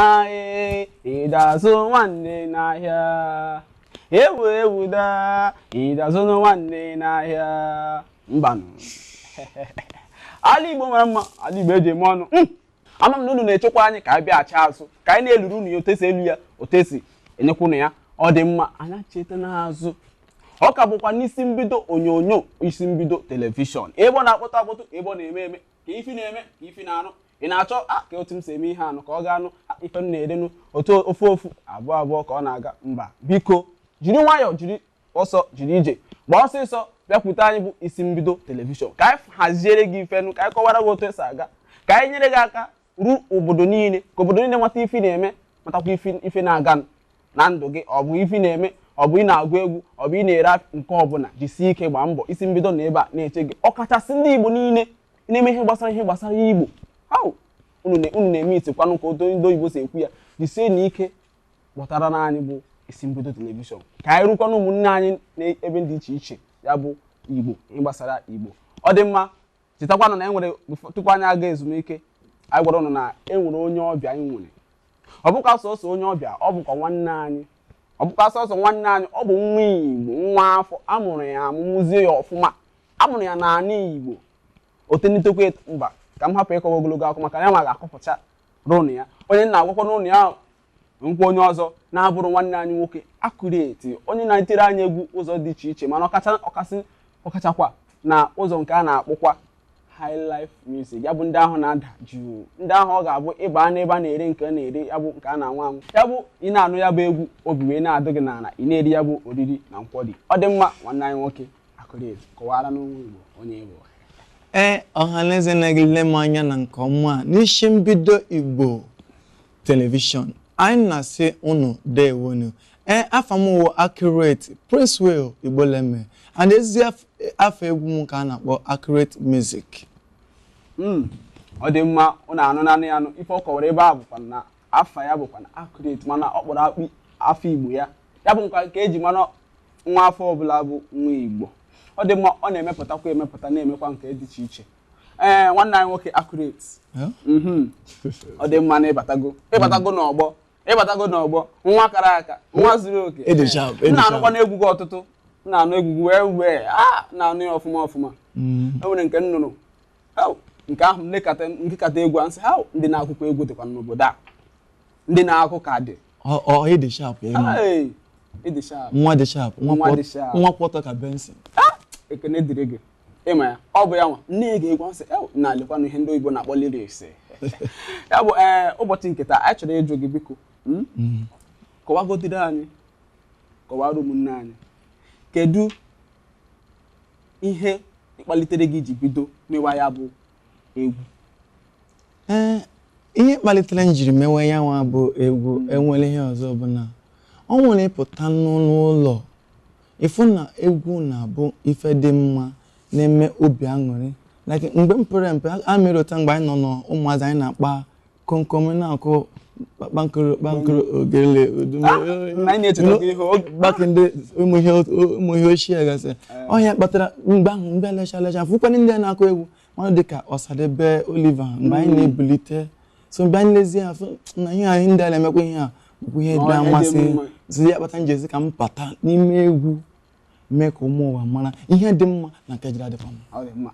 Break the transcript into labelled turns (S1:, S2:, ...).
S1: Aae, ị da-azụ nwanne n'ahịa. Ewu ewu daa, ị da-azụ nwanne n'ahịa. Mbanụ. Ala Igbo mara mma, ala Igbo eji eme ọnụ. Mm. Ama m na unu na-echekwa anyị ka anyị bịaghachi azụ, ka anyị na-eluru unu ya otu esi elu ya, otu esi enyekwa unu ya. Ọ dị mma, anyị acheta n'azụ. Ọ ka bụkwa n'isi mbido onyonyo, isi mbido telivishọn. Ebe ọ na-akpọtụ akpọtụ, ebe ọ na-eme eme, ka ife ị na-eme ka ife ị na-anụ ị na-achọ a ka otu m si eme ihe anụ ka ọ ga-anụ a, ife unu na-erenụ otu ofu ofu abụọ abụọ ka ọ na-aga mba biko jiri nwayọọ jiri ọsọ jiri ije gbaa ọsịsọ bịakwute anyị bụ isi mbido telivishọn ka anyị haziere gị ifenụ ka anyị kọwara gị otu esi aga ka anyị nyere gị aka ruo obodo niile ka obodo niile mata ife na-eme matakwa ife na-aganụ na ndụ gị ọ bụ ife ị na-eme ọ bụ ị na-agụ egwu ọ bụ ị na-ere nke ọbụla jisie ike gbaa mbọ isi mbido nọ ebe a na-eche gị ọkachasị ndị Igbo niile na-eme ihe gbasara ihe gbasara Igbo ahụ unu na-eme itikwanụ ka otu ndị oyibo si ekwu ya jisienụ ike gbọtaranụ anyị bụ isi mbido telivishọn ka anyị rukwaanụ ụmụnne anyị n'ebe dị iche iche ya bụ Igbo ihe gbasara Igbo ọ dị mma Chetakwanụ na e nwere befo- tupu anyị aga ezumike anyị gwara ụnụ na e nwere onye ọbịa anyị nwere ọ bụkwa sọsọ onye ọbịa ọ bụkwa nwanne anyị ọ bụkwa sọsọ nwanne anyị ọ bụ nwa igbo nwa afọ a mụrụ ya amụ mụzie ya ọfụma a mụrụ ya n'ala igbo o tonitekwa eto mba ka m hapụ ịkọwa ogologo akụkọ maka ya ma ga-akọpụchara ụnụ ya onye m na-agwakwanụ ụnụ ya Nkwa onye ọzọ na-abụrụ nwanne anyị nwoke Accurate onye na-etiri anyị egwu ụzọ dị iche iche mana ọkacha ọkasị ọkachakwa na ụzọ nke a na-akpọkwa high life music ya bụ ndị ahụ na-ada jụụ ndị ahụ ọ ga-abụ ị ba n'ebe a na-ere nke a na-eri ya bụ nke a na-aṅụ aṅụ ya bụ ị na-anụ ya bụ egwu obi wee na-adụ gị n'ala ị na-eri ya bụ oriri na nkwari ọ dị mma nwanne anyị nwoke Accurate kọwaranụ ụmụ Igbo onye ị bụ ee
S2: ọhaneze na-egele m anya na nke ọma n'isi mbido igbo telivishọn anyị na-asị unu dewonu ee afa m wụ accurate princewill igboleme and ezi af- afa egwu m ka a na-akpọ accurate music Mm,
S1: ọ dị mma ụnụ anụnanụ ya ife ọ kọwara ebe a bụkwa na afa ya bụkwa na accurate mana ọ kpọrọ akpọ afa igbo ya ya bụkwa nke eji mara nwa afọ ọbụla bụ nwa igbo ọ dị mma ọ na-emepụtakwa emepụta na-emekwa nke dị iche iche ee eh, nwanne anyị nwoke accurate mhm. ọ dị mma nụ ị batago ị batago mm. n'ọgbọ ị batago n'ọgbọ nwa kara aka nwa zuru oke a na-anụkwanụ egwu gị ọtụtụ na-anụ egwu gị wee wee a ah, na-anụ ya ọfụma ọfụma mm. o nwere nke m nụrụ nke ahụ m gekata egwu a m sị ha ndị na-akụkwa egwu dịkwa n'obodo a ndị na-akụ ka dị
S2: nwa dị sharp nwa kwọtọ ka benson ah! ekene dịrị
S1: gị ịma ya ọ bụ ya nwa na-ege egwu sị na lekwanụ ihe ndị oyibo na-akpọ lyrics ya bụ ee eh, ụbọchị nke taa anyị chọrọ ịjụ gị biko hmm? hmm. kọwagodiri anyị kọwara ụmụnne anyị kedu ihe kpalitere gị ji bido mewa ya bụ egwu ee eh,
S2: ihe kpalitere m jiri mewe ya nwa bụ egwu hmm. enwere ihe ọzọ bụ na o nwere ịpụta n'ụlọ Ịfụ na egwu na-abụ ife dị mma na-eme obi aṅụrị like mgbe m pere mpe a mere ụta mgbe anyị nọ n'ụmụazị anyị na-akpa komkom na-akụ kpankoro ogele gbake ndị ụmụ ihe ochie gasị ọ ihe a kpatara mgbe ahụ mgbe lecha lecha fụkwanụ ndị na-akụ egwu mmadụ dịka Osadebe Oliver mgbe anyị na-ebulite so mgbe anyị lezie ya fụ na ihe ndị a na-emekwa ihe a bụ ihe dị amasị so ya kpata m ji sị ka m bata n'ime egwu mee ka ụmụ ụwa mara ihe dị mma na nke jiri adịkwa mma